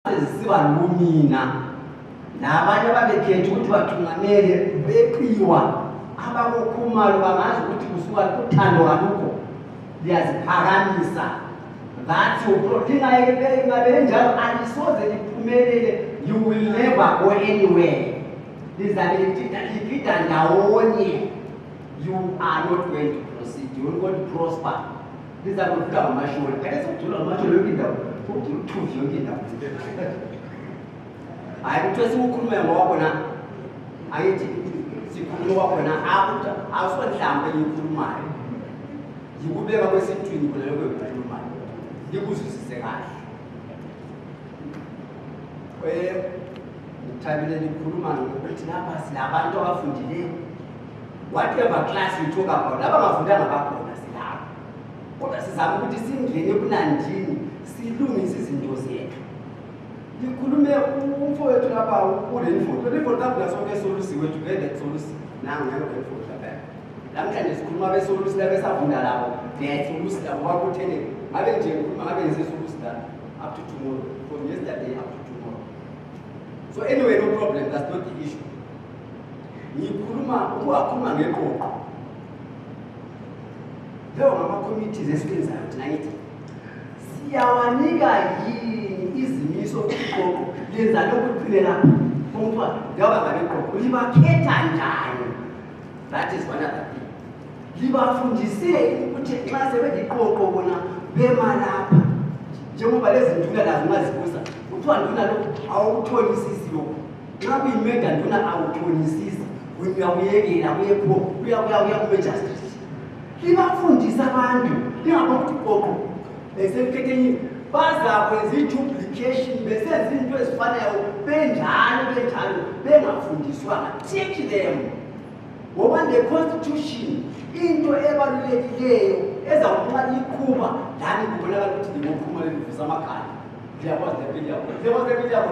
zisiba nomina nabanye ababekhetha ukuthi bathungamele beqiwa abakukhumalo bangazi ukuthi kusuka uthando kalukho liyaziphakamisa that's your proteinayekepele ngabe enjalo alisoze liphumelele you will never go anywhere lizabe ligida ndawonye you are not going to proceed you will not prosper ndizama ukuvuka ngamashuri ake sokujula ngamashuri yonke indawo ukujula uthuzi yonke indawo hayi kuthiwe siwukhulume ngowakho na angithi sikhulume wakho na akuthi awusonhlambe yikhulumayo yikubeka kwesithwini khona lokho yikhulumayo yikuzwisise kahle um ngithabile nikhuluma ngokuthi lapha silabantu abafundileyo whatever class you talk about abangafundanga bakhona silapho kodwa sizama ukuthi singene ebunandini silungise izinto zethu ngikhulume umfo wethu lapha kule mfoto le mfoto abula sonke solusi wethu ngeke solusi nangu ngeke le mfoto lapha namhlanje sikhuluma be solusi la besavunda labo ne solusi labo wakuthele ngabe nje ngikhuluma ngabe ngize solusi la up to tomorrow from yesterday up to tomorrow so anyway no problem that's not the issue ngikhuluma ukuwakhuluma ngeqoqo leyo ngama-committees esiwenzayo thina ngithi siyawanika yini izimiso iqoqo lenza lokuqinela kuthiwa njengoba ngabe iqoqo libakhetha njani that is one other thing libafundiseni ukuthi nxa sebeliqoqo bona bemalapha njengoba lezinduna lazo ungazibuza kuthiwa nduna lokhu awukuthonisisilokhu nxa kuyimeda nduna awuthonisisi uyakuyekela kuyekho uyakuyakuya kube justice libafundisa abantu lingabokuthi koko besekukhethenye bazakwenza iduplication besenza into ezifanayo benjalo benjalo bengafundiswanga teach them ngoba le constitution into ebalulekileyo ezawunxa liqhuba lani kubonakala ukuthi ndingoqhuma lelivisa amakhanda ndiyakwazi lepiliyabo ndiyakwazi lepiliyabo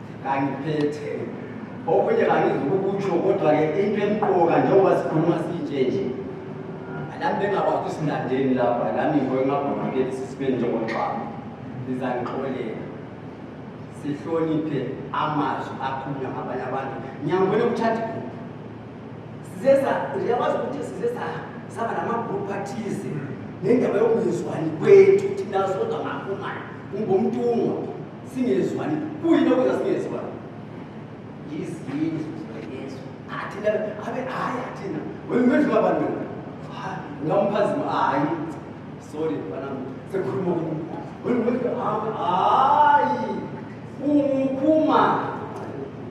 kangiphethe okunye kangizukukutsho kodwa-ke into emqoka njengoba sikhuluma sinje nje lami bengakwazi usinandeni lapha lami ngoyemabhokukeli sisibe njengoxaba lizangixolela sihloniphe amazwi akhulunywa ngabanye abantu ngiyangibona ukuthatha siyakwazi ukuthi size saba namagrupu athize nendaba yokungezwani kwethu thina sodwa ngakumani ungumntungwa singezwani kuyini okwenza singezwani yizini zozwayezwa athina abe hayi athina wemedlula abantu ngamphazima hayi sorry bana sekhuluma kumkhu wemedlula hayi hayi umuphuma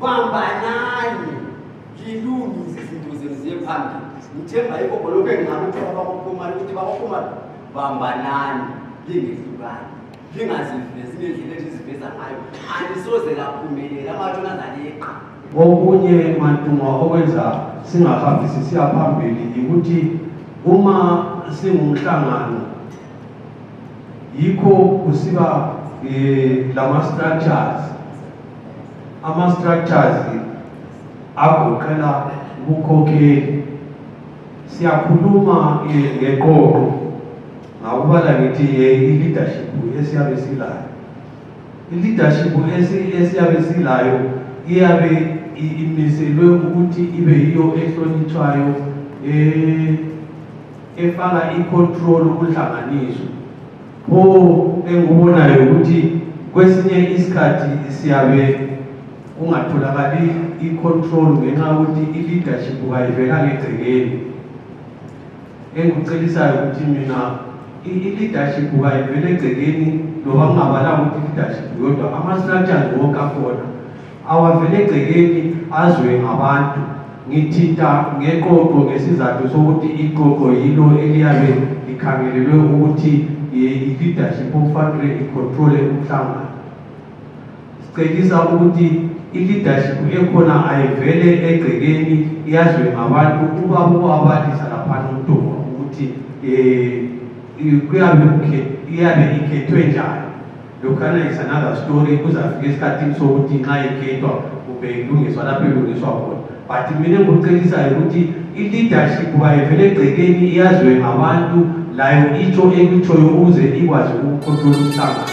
bambanani lilungise izinto zenu ziye phambili ngithemba yikho khona lokhu engingakuthi babakuphuma ukuthi babaphuma bambanani lingehlukani okunye mantungwa okwenza singahambisi siya phambili yikuthi uma singumhlangano yikho kusiba eh, lama-structures ama-structures agoqela ubukhokheli siyakhuluma eh, ngeqoqo ngakubala ngithi ye i-leadership esiyabe silayo i-leadership esiyabe silayo iyabe imiselwe ukuthi ibe yiyo ehlonitshwayo eh, efaka i-control kuhlanganiso pho engikubonayo ukuthi kwesinye isikhathi siyabe kungatholakali i-control ngenxa yokuthi i-leadership kayivelanga egcekeni engikucelisayo ukuthi mina i-leadership kayivele egcekeni loba kungabalanga ukuthi i-leadership yodwa ama-structures wonke akhona awavele egcekeni azwe ngabantu ngithinta ngeqoqo ngesizathu sokuthi iqoqo yilo eliyabe likhangelelwe ukuthi i-leadership okufanele icontrole umhlangano Sicebisa ukuthi i-leadership ekhona ayivele egcekeni yazwe ngabantu ukuba kubabalisa laphana umntoma ukuthi um kuyabe iyabe ikhethwe njani lokhana is another story kuzafika esikhathini sokuthi nxa ikhethwa kumbe ilungiswa lapho ilungiswa khona but mina engikucelisayo ukuthi i-leadership bayivele egcekeni iyazwe ngabantu layo itsho ekutshoyo ukuze ikwazi ukukhontrola umhlangano